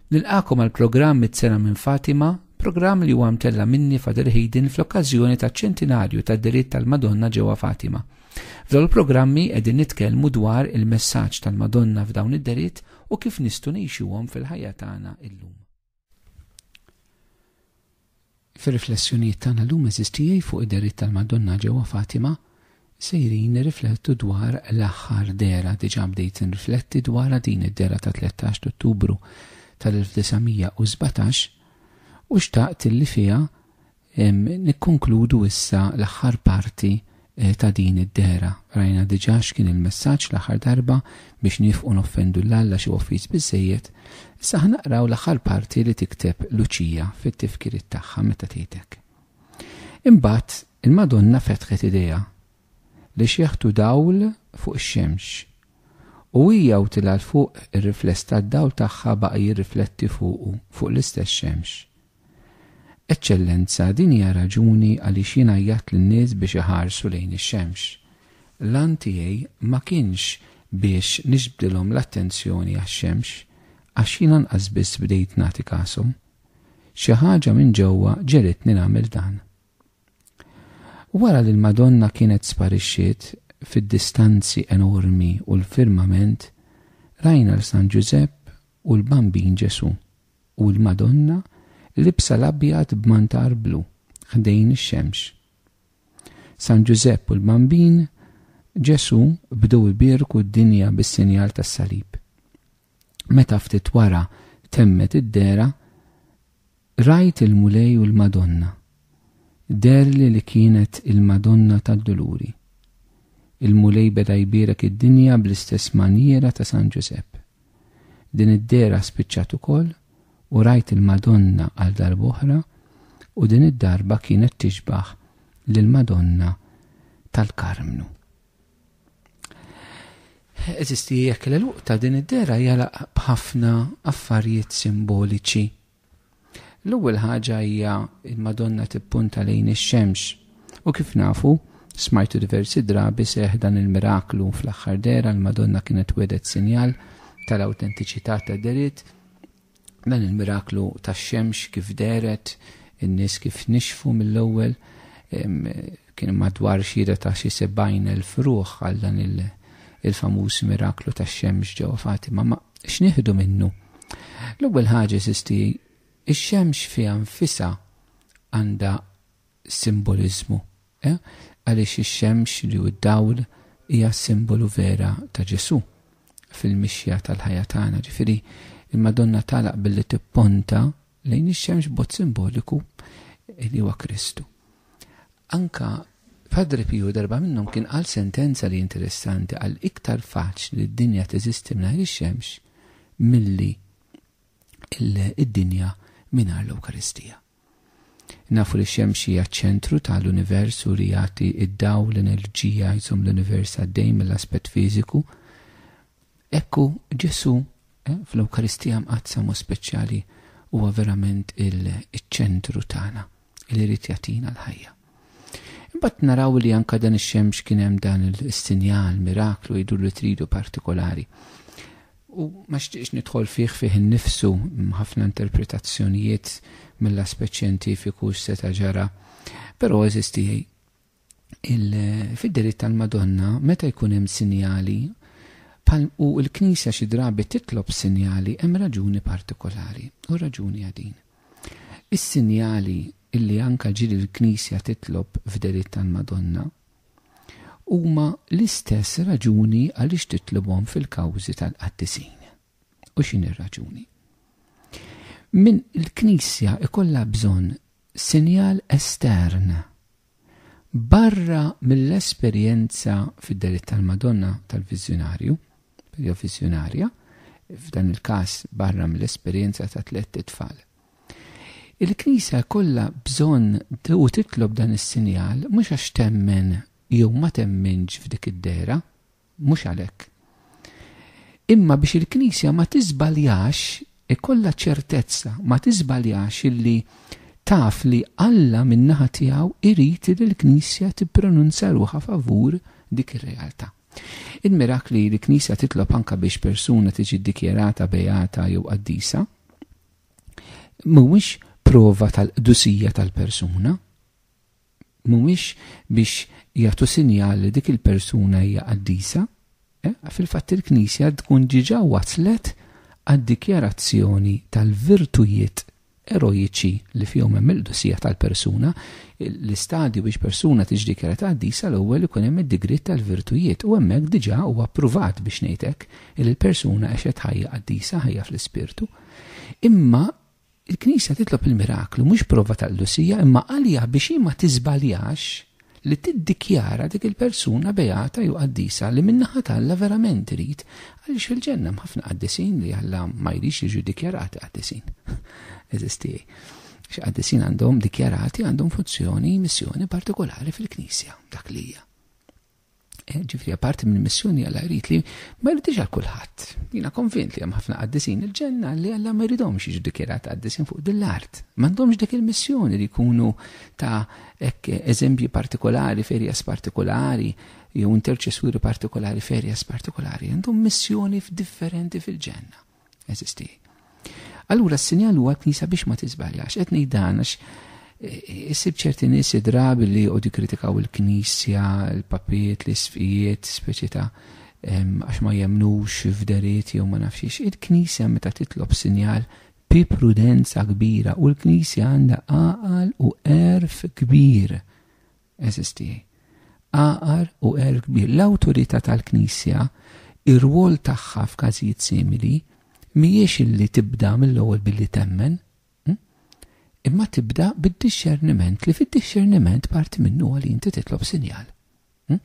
Nilqakom għal programm mit-sena minn Fatima, programm li huwa mtella minni Fader Hayden fl-okkażjoni ta' ċentinarju ta' diritt tal-Madonna ġewwa Fatima. F'dawn il-programmi qegħdin nitkellmu dwar il-messaġġ tal-Madonna f'dawn id-deritt u kif nistgħu ngħixuhom fil-ħajja tagħna illum. Fir-riflessjonijiet tagħna llum eżistijaj fuq id-dehriet tal-Madonna ġewwa Fatima sejrin nirriflettu dwar l-aħħar dehra diġà bdejt nrifletti dwarha din id-dehra ta' 13 t'Ottubru tal-1917 u xtaqt li fiha Nikkonkludu issa l-aħħar parti eh, ta' din id-dehra. Rajna diġà x'kien il-messaġġ l-aħħar darba biex niefqu noffendu l Alla xi offiż biżżejjed. Issa ħanaqraw l-aħħar parti li tikteb Luċija fit-tifkiriet tagħha meta tgħidek. Imbagħad il-Madonna fetħet idejha li xieħtu dawl fuq ix-xemx u hija u tilgħal fuq ir-rifless tad-dawl tagħha baqa' jirrifletti fuqu fuq l-istess xemx. Eċċellenza, din hija r-raġuni għaliex jien għajjatt lin-nies biex iħarsu lejn ix-xemx. L-għan tiegħi ma kienx biex niġbdilhom l-attenzjoni għax-xemx, għax jien anqas biss bdejt nagħti kashom. Xi ħaġa minn ġewwa ġegħlitni nagħmel dan. Wara li l-Madonna kienet sparixxiet fid-distanzi enormi u l-firmament, rajna 'l San Ġużepp u l-Bambin Ġesù. u l-Madonna libsa l-abjad b'mantar blu ħdejn ix-xemx. San Ġużepp u l-Bambin Ġesù bdew ibierku d-dinja bis-sinjal tas-salib. Meta ftit wara temmet id-dehra, rajt il-Mulej u l-Madonna Deherli li kienet il-Madonna tad-Duluri. Il-Mulej beda jbierek id-dinja bl-istess manjiera ta' San Ġużepp. Din id-dehra spiċċat ukoll u rajt il-Madonna għal darb'oħra u din id-darba kienet tixbah lill-Madonna tal-Karmnu. Eżisti jekk l-għeluq ta' din id-dehra jagħlaq b'ħafna affarijiet simboliċi. L-ewwel ħaġa hija l-Madonna tippunta lejn ix-xemx. U kif nafu, smajtu diversi drabi, seħħ dan il-miraklu fl-aħħar dehra, l-Madonna kienet wegħdet sinjal tal-awtentiċità tad-dehriet, dan il-miraklu tax-xemx kif dehret, in-nies kif nixfu mill-ewwel, Kien madwar xhieda ta' xi 70,000 ruħ għal dan il-famuż miraklu tax-xemx ġewwa Fatima. Ma x'nieħdu minnu? L-ewwel ħaġa sisti, ix-xemx fiha nfisha għandha simboliżmu, eh? għaliex ix-xemx li hu d-dawl hija simbolu vera ta' Ġesù fil-mixja tal-ħajja tagħna. Ġifieri, il-Madonna tagħlaq billi tipponta lejn ix-xemx b'mod simboliku li huwa Kristu. Anke Padre Piju darba minnhom kien qal sentenza li interessanti għal iktar faċli li d-dinja teżisti mingħajr ix-xemx milli id-dinja mingħajr l-Ewkaristija. Nafu li x-xemx hija ċ-ċentru tal-univers u li jagħti id-dawl, l-enerġija jżomm l-univers għaddej mill-aspett fiżiku, Hekk hu, Ġesù fl-Ewkaristija Mqaddsa mod speċjali huwa verament iċ-ċentru tagħna li jrid jagħtina l-ħajja. Imbagħad naraw li anke dan ix-xemx kien hemm dan is-sinjal, miraklu jidhru li tridu partikolari. U ma xtieqx nidħol fih fih innifsu ħafna interpretazzjonijiet mill-aspett xjentifiku x'seta' ġara, però eżisti fid-deriet tal-Madonna meta jkun hemm sinjali bħal u l-Knisja xi drabi titlob sinjali hemm raġuni partikolari u r-raġuni hija din. Is-sinjali illi anke ġieli l-Knisja titlob f'deriet tal-Madonna huma l-istess raġuni għaliex titlobhom fil-kawżi tal-qaddisin. U x'inhi r-raġuni? Min il-Knisja ikollha bżonn sinjal estern barra mill-esperjenza fid-delitt tal-Madonna tal-viżjunarju, jew viżjunarja, f'dan il-każ barra mill-esperjenza ta' tlett itfal. Il-Knisja kollha bżonn u titlob dan is-sinjal mhux għax temmen jew ma temminx f'dik id-dera, Mhux għalhekk. Imma biex il-Knisja ma tiżbaljax, ikollha ċertezza, ma tiżbaljax illi taf li Alla min-naħa tiegħu jrid li l-Knisja tippronunzja ruħha favur dik ir-realtà. Il-mirakli li l-Knisja titlob anke biex persuna tiġi ddikjarata beata jew qaddisa mhuwiex prova tal-qdusija tal-persuna, mhumiex biex jagħtu sinjal li dik il-persuna hija qaddisa, fil-fatt il-Knisja tkun diġà waslet għad-dikjarazzjoni tal-virtujiet eroiċi li fihom hemm il-qdusija tal-persuna, l-istadju biex persuna tiġi dikjarata qaddisa l-ewwel ikun hemm id-digriet tal-virtujiet u hemmhekk diġà huwa ppruvat biex ngħid hekk li l-persuna għexet ħajja qaddisa, ħajja fl-ispirtu. Imma Il-Knisja titlob il-miraklu mhux prova ta' qdusija imma għaliha biex hi ma tiżbaljax li tiddikjara dik il-persuna beata jew qaddisa li min-naħa t'Alla verament irid għaliex fil-Ġenna hemm ħafna qaddisin li Alla ma jridx jiġu ddikjarati qaddisin. Għeżież tiegħi. Għax qaddisin għandhom dikjarati għandhom funzjoni, missjoni partikolari fil-Knisja, dak li hija. Eh, ġifri, parti minn missjoni għalla jrid li ma jridix għal kulħadd. Jina konvint li hemm ħafna għaddisin il-ġenna li għalla ma jridhomx jiġu dikjerat għaddisin fuq dil-art. M'għandhomx dik il-missjoni li jkunu ta' eżempji partikolari, ferjas partikolari, jew interċessuri partikolari, ferjas partikolari. Għandhom missjoni differenti fil-ġenna. Eżisti. Allura s-sinjal huwa l-Knisja biex ma tiżbaljax, qed ngħid dan għax eh, issib ċerti nies drabi li jqogħdu kritikaw il-Knisja, il-papiet, l-isfijiet, speċi ta' għax ma jemnux f'deriet jew ma nafxiex. Il-Knisja meta titlob sinjal bi prudenza kbira u l-Knisja għandha għaqal u erf kbir Eżis tiegħi. Għaqar u għerf kbir. L-awtorità tal-Knisja, ir-rwol tagħha f'każijiet simili, mhijiex illi tibda mill-ewwel billi temmen, hm? imma tibda bid-dixxerniment li fid-dixxerniment parti minnu għal inti titlob sinjal. Hm?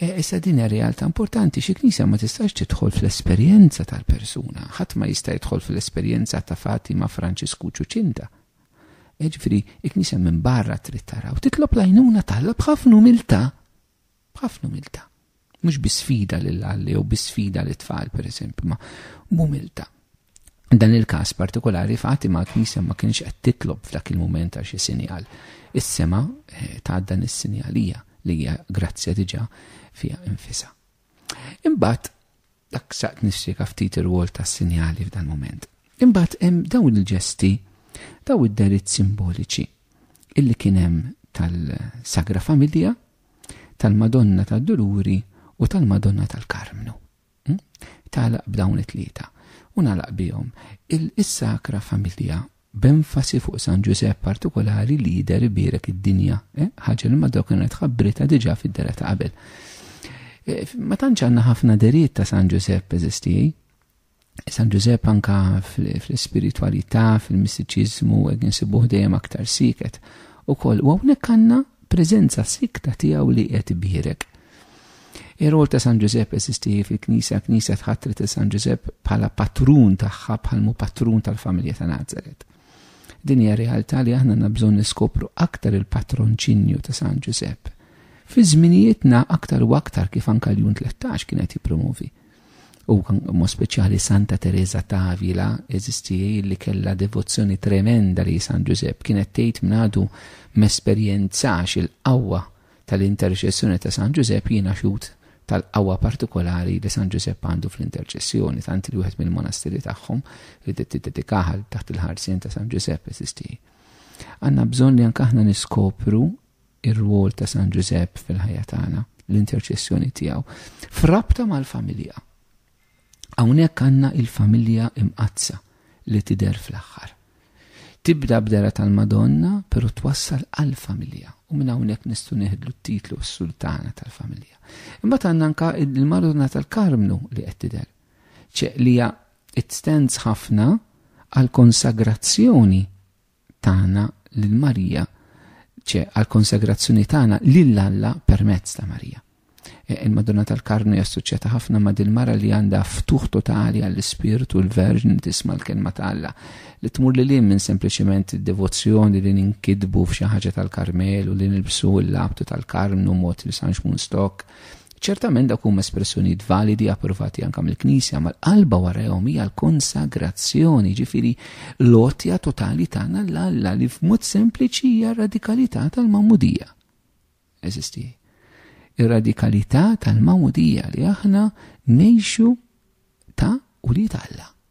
E, issa din hija realtà importanti xi knisja ma tistax tidħol fl-esperjenza tal-persuna, ħadd ma jista' jidħol fl-esperjenza ta' Fatima Franċisku Ċuċinda. Jiġifieri, il-Knisja minn barra trid tara u titlob l-għajnuna t'Alla b'ħafna umiltà. B'ħafna umiltà. Mhux bi sfida lil Alla jew bi sfida lit tfal pereżempju, ma b'umiltà. Dan il-każ partikolari fati ma' knisja ma kienx qed titlob f'dak il-mument għal xi sinjal. Is-sema eh, ta' dan is-sinjalija li hija grazzja diġà fiha infisa. Imbagħad dak saqt nispjega ftit ir-rwol tas-sinjali f'dan mument. Imbagħad hemm dawn il-ġesti, daw id-deritt simboliċi illi kien hemm tal-Sagra Familja, tal-Madonna tad-Duluri u tal-Madonna tal-Karmnu. Hm? Talaq b'dawn it-tlieta u nalaq bihom. Il-Sakra Familja b'enfasi fuq San Ġużepp partikulari li jidher ibierek id-dinja, ħaġa li mad-dawk li ngħid ħabbritha diġà fid-dehra ta' qabel. Ma tantx għandna ħafna deriet ta' San Ġużepp eżisti. San Ġużepp anka fl-ispiritwalità, fil-mistiċiżmu, hekk insibuh dejjem aktar siket. Ukoll u hawnhekk għandna preżenza sikta tiegħu li qed ibierek. Ir-rwol ta' San Ġużepp eżisti fil-Knisja, l-Knisja tħattret il San Ġużepp bħala patrun tagħha bħal mu patrun tal-familja ta' Nazaret. Din hija realtà li aħna nabżon niskopru aktar il-patronċinju ta' San Ġużepp. Fi żminijietna aktar u aktar kif anka l-jun 13 kienet jippromovi. U mo speċjali Santa Teresa Tavila eżisti li kella devozzjoni tremenda li San Ġużepp kienet tgħid mnadu mesperjenzax il-qawwa tal-interċessjoni ta' San Ġużepp jiena xhud tal-qawwa partikolari li San Ġużepp għandu fl-interċessjoni, tant li wieħed mill-monastiri tagħhom li tiddedikaha taħt il-ħarsien ta' San Ġużepp eżisti. Għandna bżonn li anke aħna niskopru ir-rwol ta' San Ġużepp fil-ħajja tagħna, l-interċessjoni tiegħu, f'rabta mal-familja. Hawnhekk għandna il-familja imqaddsa li tidher fl-aħħar. Tibda b'dehra tal-Madonna, però twassal għall-familja u minn hawnhekk nistgħu neħdlu t-titlu s-Sultana tal-Familja. Imbagħad għandna anka il-Madonna tal-Karmnu li qed tidher. Ċeqlija it stands ħafna għal konsagrazzjoni tagħna lil Marija, ċe għall-konsagrazzjoni tagħna lil Alla permezz ta' Marija. E, Il-Madonna tal-Karnu jassoċjata ħafna ma' dil-mara li għandha ftuħ totali għall-Ispirtu l-Verġn li tisma' l-kelma ta' Alla li tmur li lin minn sempliċement devozzjoni li ninkidbu f'xi ħaġa tal-Karmel u li nilbsu l-labtu tal-Karmnu mod li sanx mun stok Ċertament dawk huma espressjonijiet validi approvati anke mill-Knisja, ma l-qalba warahom hija l-konsagrazzjoni, ġifieri l-għotja totali tagħna l Alla li f'mod sempliċi hija radikalità tal-mamudija. Eżisti. Ir-radikalità tal-mamudija li aħna nejxu ta' u li Alla.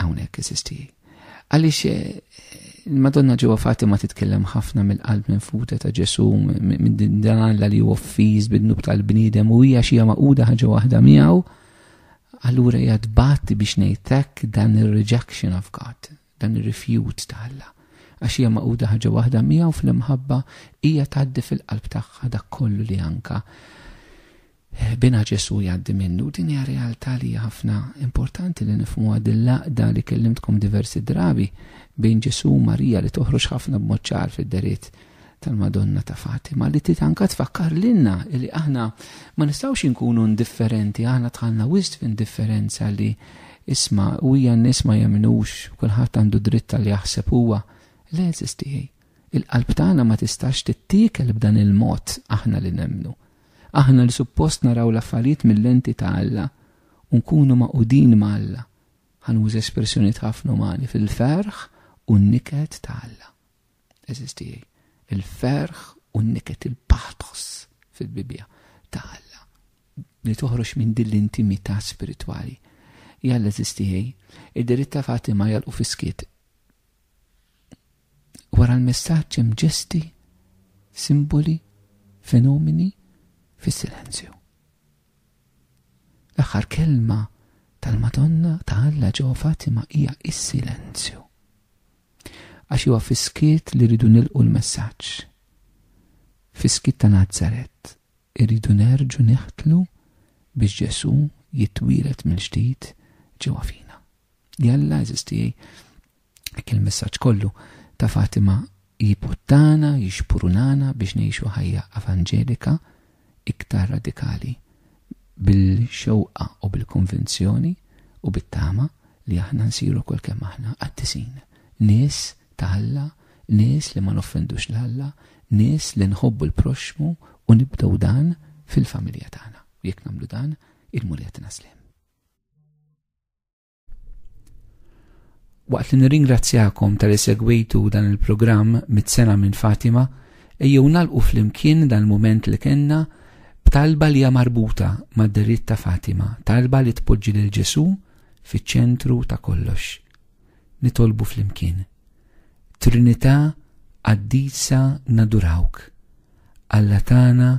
Hawnhekk eżisti. Għaliex eh, il-Madonna ġewwa Fatima titkellem ħafna mill-qalb minn futa ta' Ġesu minn din dan li huwa offiż bid-nub tal-bniedem u hija xi maquda ħaġa waħda miegħu. Allura hija tbatti biex ngħidlek dan ir-rejection of God, dan ir-rifjut ta' Alla. Għax hija maquda ħaġa waħda miegħu fl-imħabba hija tgħaddi fil-qalb tagħha dak kollu li anka Ħbiena Ġesù jgħaddi minnu. Din hija realtà li hija ħafna importanti li nifhmuha din l-għaqda li kellimtkom diversi drabi bejn Ġesù u Marija li toħroġ ħafna b'mod ċar fid-deriet tal-Madonna ta' Fatima li titanka tfakkar lilna li aħna ma nistgħux inkunu indifferenti, aħna tħallna wisq f'indifferenza li isma' u hija n-nies ma jemnux kulħadd għandu dritt li jaħseb huwa. Le eżistieħi. Il-qalb tagħna ma tistax tittiekel b'dan il-mod aħna li nemnu. Aħna li suppost naraw l-affarijiet mil-lenti ta' Alla u nkunu magħqudin ma' Alla, ħa nuża espressjonijiet ħafna umani, fil-ferħ u n-niket ta' Alla. Eżiż tiegħi, il-ferħ u n-niket il-pathos fil-Bibbja ta' Alla li toħroġ minn din l-intimità spiritwali. Jalla eżiż tiegħi, id-diritta Fatima jalqu fiskiet wara l-messaġġ hemm ġesti, simboli, fenomeni fis-silenzju. L-aħħar kelma tal-Madonna ta' Alla ġewwa Fatima hija is-silenzju. Għax huwa fiskiet li rridu nilqu l-messaġġ. Fiskiet ta' Nazaret irridu nerġu neħtlu biex Ġesù jitwielet mill-ġdid ġewwa fina. Jalla, eżis tiegħi, hekk il-messaġġ kollu ta' Fatima jiputtana, jixpurunana biex ngħixu ħajja evanġelika iktar radikali bil-xewqa u bil-konvinzjoni u bit-tama li aħna nsiru kol kemm aħna qaddisin. Nies ta' Alla, nies li ma noffendux l Alla, nies li nħobbu l-proxxmu u nibdew dan fil-familja tagħna. Jekk nagħmlu dan, il-Mulja tina slem. Waqt li nirringrazzjakom tal segwitu dan il-programm mit-sena minn Fatima, ejjew nalqu flimkien dan il-moment li kenna b'talba li hija marbuta mad-deritt ta' Fatima, talba li tpoġġi lil Ġesu fiċ-ċentru ta' kollox. Nitolbu flimkien. Trinità qaddisa nadurawk. Alla tagħna,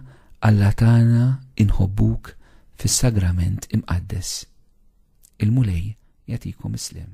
Alla tagħna inħobbuk fis-sagrament imqaddes. Il-Mulej jagħtikom is-sliem.